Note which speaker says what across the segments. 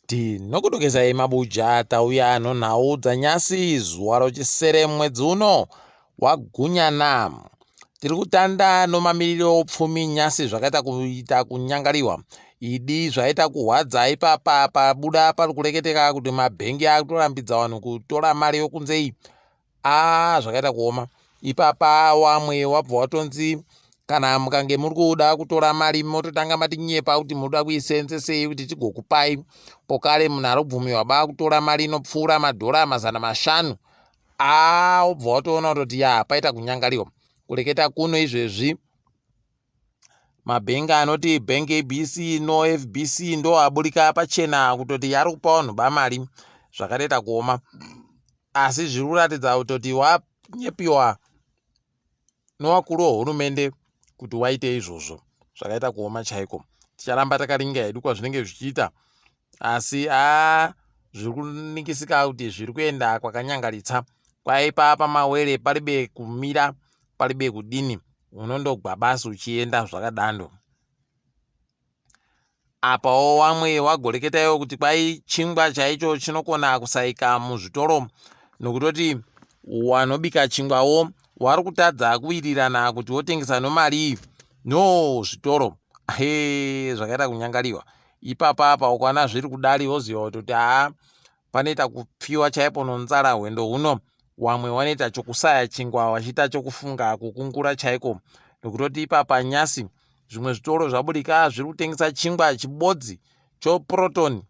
Speaker 1: Tinokudokesayi mabuja tauya ano nhau dzanyasi zuva rochisere mwedzi uno wagunyana. Tiri kutanda nomamiriro oupfumi nyasi zvakaita kuita kunyangariwa. Idi zvaita kuhwadza ipapa pabuda pari kureketeka kuti mabhengi akutorambidza vanhu kutora mari yokunze iyi aa zvakaita kuoma ipapa wamwe wabva watonzi kana mukange muri kuda kutora mari mototanga matinyepa kuti munoda kuisenzesei kuti tigokupai pokare munhu arobvumiwa baa kutora mari inopfuura madhora mazana mashanu aa wobva watoona kutoti ya paita kunyangariwa kureketa kuno izvezvi Mabhengi anoti Bank ABC no FBC ndo aburika pachena kutoti yari kupa vanhu bamari zvakatoita kuoma asi zviri kuratidza kutoti wanyepiwa nowakuru wehurumende kuti waite izvozvo zvakaita kuoma chaiko ticharamba takaringa hedu kwazvinenge zvichiita Asi haa zviri kuningisika kuti zviri kuenda kwakanyangaritsa kwaipa pamawere paribe kumira paribe kudini unondogwa basi uchienda zvakadando apawo wamwe wagoreketaiwo kuti kwai chingwa chaicho chinokona kusaika muzvitoro nokutoti wanobika chingwawo wari kutadza kuwirirana kuti wotengesa nomarii no zvitoro he zvakaita kunyangariwa ipapa apa ukwana zviri kudari woziva kutoti haa panoita kupfiwa chaipo nonzara hwendo huno wamwe wanoita chokusaya chingwa wachiita chokufunga kukungura chaiko nokutoti ipapa nyasi zvimwe zvitoro zvabudika zviri kutengesa chingwa chibodzi choprotoni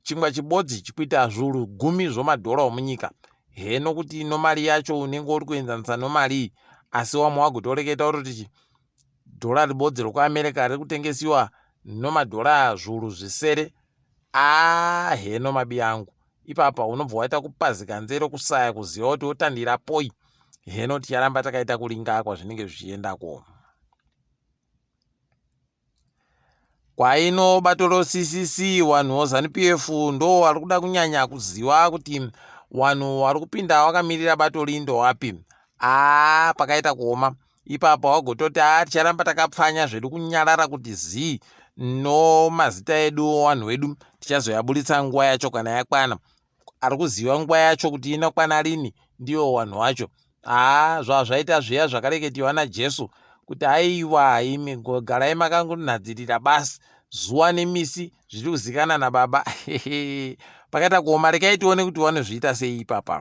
Speaker 1: chingwa chibodzi chikuita zvuru gumi zvomadhora omunyika he nokuti nomari yacho unenge uri kuenzanisa nomarii asi wamwe wagotoreketa utoti Dhora ribodzi rokuAmerica riri kutengesiwa nomadhora zvuru zvisere. Aah heno mabi angu. Ipapa unobva waita kupazika nzero kusaya kuziva kuti wotandira poi. Heno ticharamba takaita kuringa kwazvinenge zvichienda ko. kwaino batoro CCC wanhu wo Zanu PF ndo wari kuda kunyanya kuziwa kuti wanhu wari kupinda wakamirira bato ri ndo wapi aa pakaita kuoma ipapo wagototi aa ticharamba takapfanya zvedu kunyarara kuti zii no mazita edu wo wanhu wedu tichazoyaburitsa nguwa yacho kana yakwana ari kuziva nguva yacho kuti inokwana rini ndiwo wanhu wacho haa zvava zvaita zviya zvakareketiwa najesu kuti aiwa imi garai makangonhadzirira basi zuva nemisi zviri kuzikana nababa pakaita kuoma rekai tione kuti vanozviita sei ipapa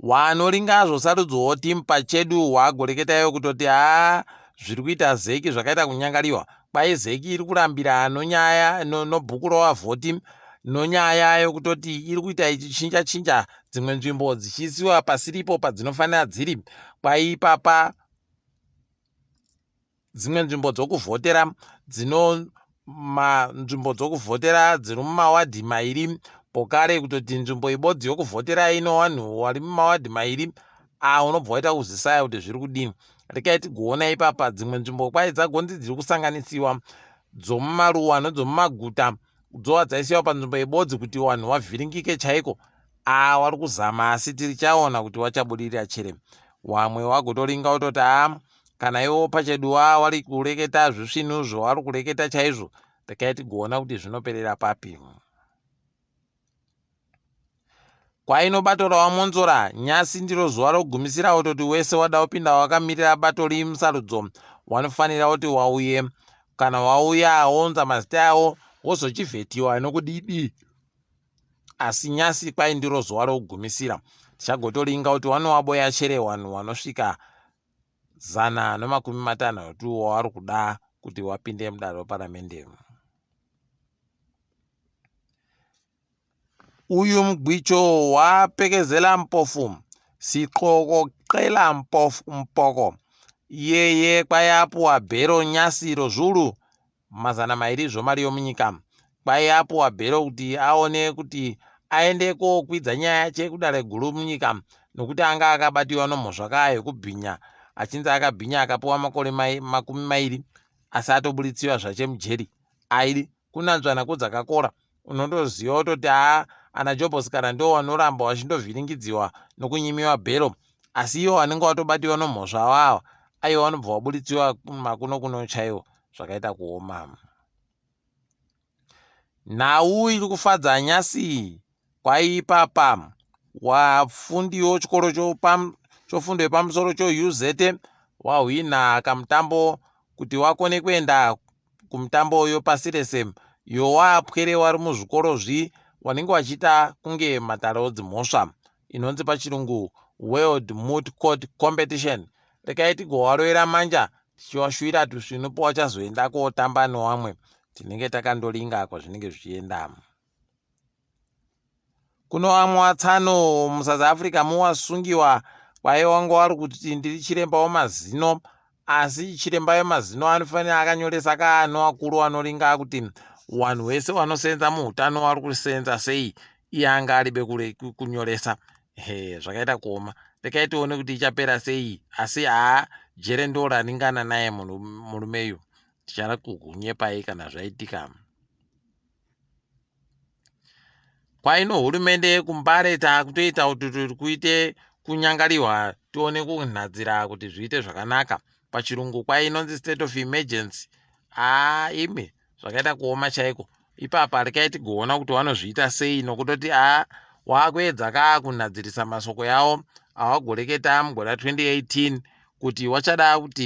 Speaker 1: wanoringa hazvo sarudzo wotim pachedu wagoreketa iwe kutoti haa zviri kuita zeki zvakaita kunyangariwa kwai zeki iri kurambira ano nyaya no, no bhuku rova votim nonyaya yokutoti iri kuita ichichinja chinja dzimwe nzvimbo dzichiisiwa pasiripo padzinofanira dziri kwaipapa Dzimwe nzvimbo dzokuvhotera dzino manzvimbo dzokuvhotera dziri mumawadhi mairi pokare kutoti nzvimbo ibodzi yokuvhotera ino vanhu vari mumawadhi mairi aa unobva waita kuzisaya kuti zviri kudini rekai tigoona ipapa dzimwe nzvimbo kwai dzagonzi dziri kusanganisiwa dzomumaruwa nedzomumaguta dzova dzaisiwa panzvimbo ibodzi kuti vanhu vavhiringike chaiko aa wari kuzama asi tirichaona kuti wachabudirira chere wamwe wagotoringa wototi aa kana iwo pachedu wavo vari kureketa zvisvinuzvo vari kureketa chaizvo rekai tigoona kuti zvinoperera papi kwainobatorwa monzora nyasi ndiro zuva rogumisira wototi wese wada kupinda wakamirira bato rii musarudzo wanofanira kuti wauye kana wauya wounza mazita yawo wozochivhetiwa nokudidi asi nyasi kwai ndiro zuva rokugumisira tichagotoringa kuti wanowaboya chere wanhu wanosvika zana nemakumi matanhatu wavari kuda kuti wapinde mudare reparamende uyu mugwicho wapekezela mpofu siqoko qela mpofu mpoko iyeye kwayapuwa bhero nyasi rozvulu mazana mairi zvomari yomunyika kwaiye apuwa bhero kuti aone kuti aende kokwidza nyaya yache kudare guru munyika nokuti anga akabatiwa nomhosva kaa yokubhinya achinzi akabhinya akapuwa makore mai, makumi mairi asi atobuditsiwa zvache mujeri airi kunanzvana kodzakakora unotoziva wototi haa ana jobos kana ndo wanoramba wachindovhiringidziwa nokunyimiwa bhero asi iwo wanenge watobatiwa nomhosva awawa aiwa wanobva waburitsiwa makuno kuno chaiwo zvakaita kuoma nhau iri kufadza nyasi kwaipapa wafundiwo chikoro chofundo yepamusoro chouzete wahwina kamutambo kuti wakone kuenda kumutambo uyo pasi rese yowa pwere wari muzvikoro zvi wanenge wachiita kunge matare odzimhosva inonzi pachirungu world moot court competition rekai tigowaroera manja tichiwashuvira tusvinu powachazoenda kootamba newamwe tinenge takandolinga kwazvinenge zvichienda Kuno amwa tsano mu South Africa muwasungiwa kwaye wanga wari kuti ndiri chiremba wemazino asi chiremba wemazino anofanira akanyoresa kaano wakuru wanoringa kuti wanhu wese wanosenza muhutano wari kusenza sei iye anga aribe kure kunyoresa he zvakaita kuoma rekai tione kuti ichapera sei asi haa jere ndo raringana naye murume yu tichara kukunyepai kana zvaitika kwaino hurumende yekumbare takutoita kuti tiri kuite kunyangariwa tione kunhadzira kuti zviite zvakanaka pachirungu kwai inonzi state of emergency aa imi zvakaita kuoma chaiko ipapa rikai tigoona kuti wanozviita sei nokutoti aa wakuedza kaa kunhadzirisa masoko yawo awagoreketa mugore 2018 kuti wachada kuti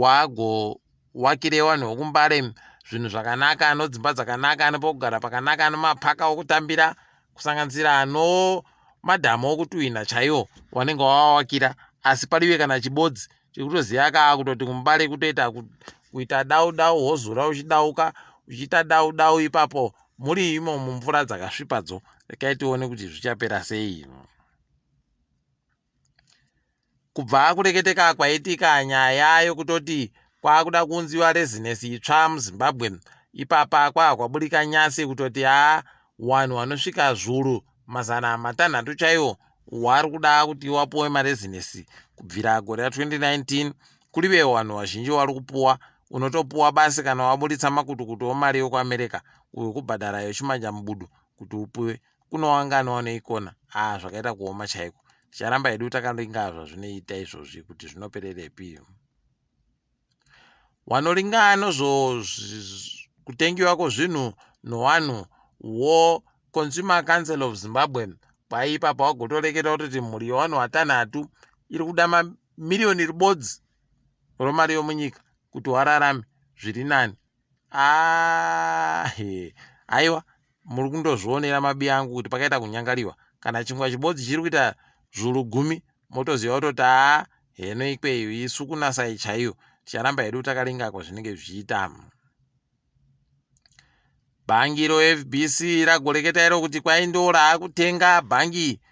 Speaker 1: wago Wakire wanhu wokumbare zvinhu zvakanaka ano dzimba dzakanaka ano pokugara pakanaka ano mapaka okutambira kusanganisira ano madhamu okutuhwina chaiwo wanenge wawawakira asi palive kana chibodzi chekutoziva kaa kutoti kumubare kutoita kuita dau dau wozura uchidauka uchiita dau dau ipapo muri imo mumvura dzakasvipadzo rekai tione kuti zvichapera sei Kubva kureketeka kwaitika nyaya yokutoti kwakuda kuunziwa rezinesi itsva muZimbabwe, ipapa kwava kwaburika nyasi yokutoti haa wanhu wanosvika zvuru mazana matanhatu chaiwo wari kuda kuti wapuwe marezinesi kubvira gore ra 2019 kurive wanhu wazhinji wari kupuwa unotopuwa basi kana waburitsa makutukutu omari yokuAmerica uyo kubhadhara yochimanja mubudu kuti upuwe kuno wanga anowana ikona haa zvakaita kuoma chaiko ticharamba hedu takaringaa zvazvinoita izvozvi kuti zvinopererepi wanoringaa nozvo kutengiwa kwozvinhu nowanhu wo consumer council of zimbabwe kwaipapa wagotoreketa kutoti mhuri yowanhu watanhatu iri kuda mamiriyoni ribodzi romari yomunyika kuti wararame zviri nani Aah hee haiwa muri kundozvionera mabiya angu kuti pakaita kunyangariwa kana chingwa chibodzi chiri kuita zvuru gumi motoziva kutoti aa heno ikweyo isu kunasai chaiyo ticharamba hedu takalingako zvinenge zvichiita bhangi rofbc ragoreketa iro kuti kwai ndo raakutenga bhangi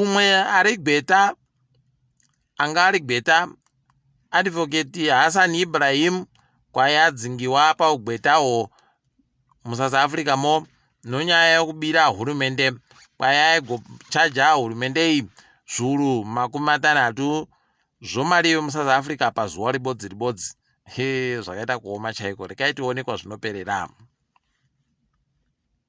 Speaker 1: umwe ari gweta anga ari gweta advocate hassan ibrahim kwaye adzingiwa paugwetawo musouth africa mo nonyaya yekubira hurumende kwaye aigochaja hurumende iyi zvuru makumi matanhatu zvomari yemusouth africa pazuva ribodzi ribodzi he zvakaita kuoma chaiko rekai tionekwa zvinoperera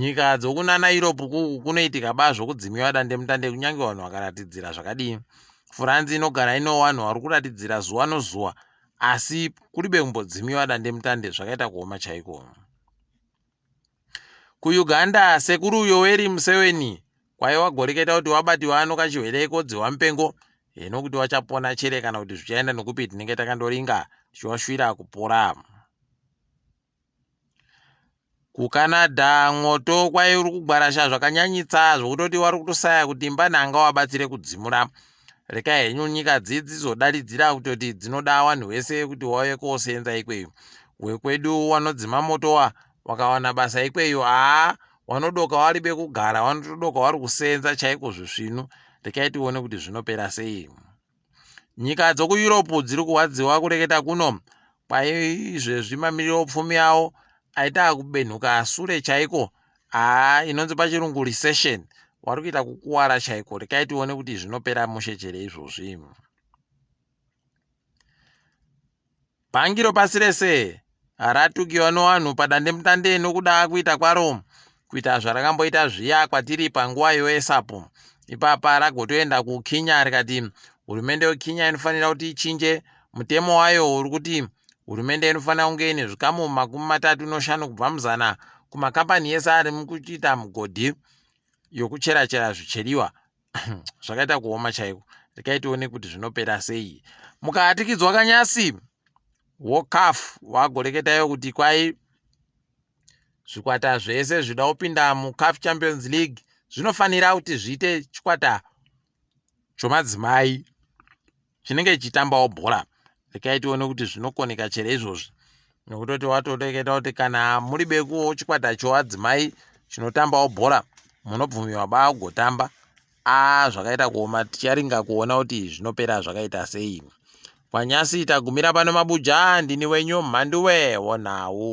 Speaker 1: Nyika dzokunana Europe kuku kunoitika ba zvokudzimiwa dandemutande kunyange vanhu vakaratidzira zvakadii. Furanzi inogara ino wanhu wari kuratidzira zuwa nozuwa asi kuribe kumbodzimiwa dandemutande zvakaita kuoma chaiko. KuUganda, Sekuru Yoweri Museweni kwaye wagoreketa kuti wabati wano kachihwere kodziwa mupengo hino kuti wachapona chere kana kuti zvichaenda nokupi tinenge takandoringa tichiwashwira kupora. KuCanada mwoto kwaive uri kugwarasha zvakanyanyisa zvokutoti wari kutosaya kuti imba nhanga wabatsire kudzimura. Rekai henyu nyika dzii dzizodaidzira kutoti dzinoda wanhu wese kuti wauye kooseenza ikweyo. Wekwedu wanodzima moto wa wakawana basa ikweyo haa wanodoka waribe kugara wanotodoka wari kuseenza chaiko zvisvinu. Rekai tione kuti zvinopera sei. Nyika dzokuEurope dziri kurwadziwa kureketa kuno kwaizvezvi mamiriro pfumi yawo aita akubenhuka sure chaiko haa inonzi pachirungu recession wari kuita kukuwara chaiko rekai tione kuti zvinopera mushe chere izvozvi Bhangi ropasi rese haratukiwa nowanhu padandemutande nokuda kuita kwaro kuita zvarakamboita zviya kwatiri panguva yoesapu. Ipapa ragotoenda kuKhinya rikati hurumende yoKhinya inofanira kuti ichinje mutemo wayo uri kuti hurumende inofanira kunge ine zvikamu makumi matatu noshanu kubva muzana kumakambani yese ari mukuchita mugodhi yokucherachera zvicheriwa zvakaita kuoma chaiko rekai tione kuti zvinopera sei mukaatikidzwa kanyasi wokaf wagoreketayo kuti kwai zvikwata zvese zvida kupinda mucaf champions league zvinofanira kuti zviite chikwata chomadzimai chinenge chichitambawo bhora rekai tione kuti zvinokoneka chere izvozvi nokutoti watoreketa kuti kana muri bekuwo chikwata choadzimai chinotambawo bhora munobvumiwa baa kugotamba a zvakaita kuoma ticharinga kuona kuti zvinopera zvakaita sei kwanyasi tagumira pano mabuja ndini wenyu mhanduwe wonawu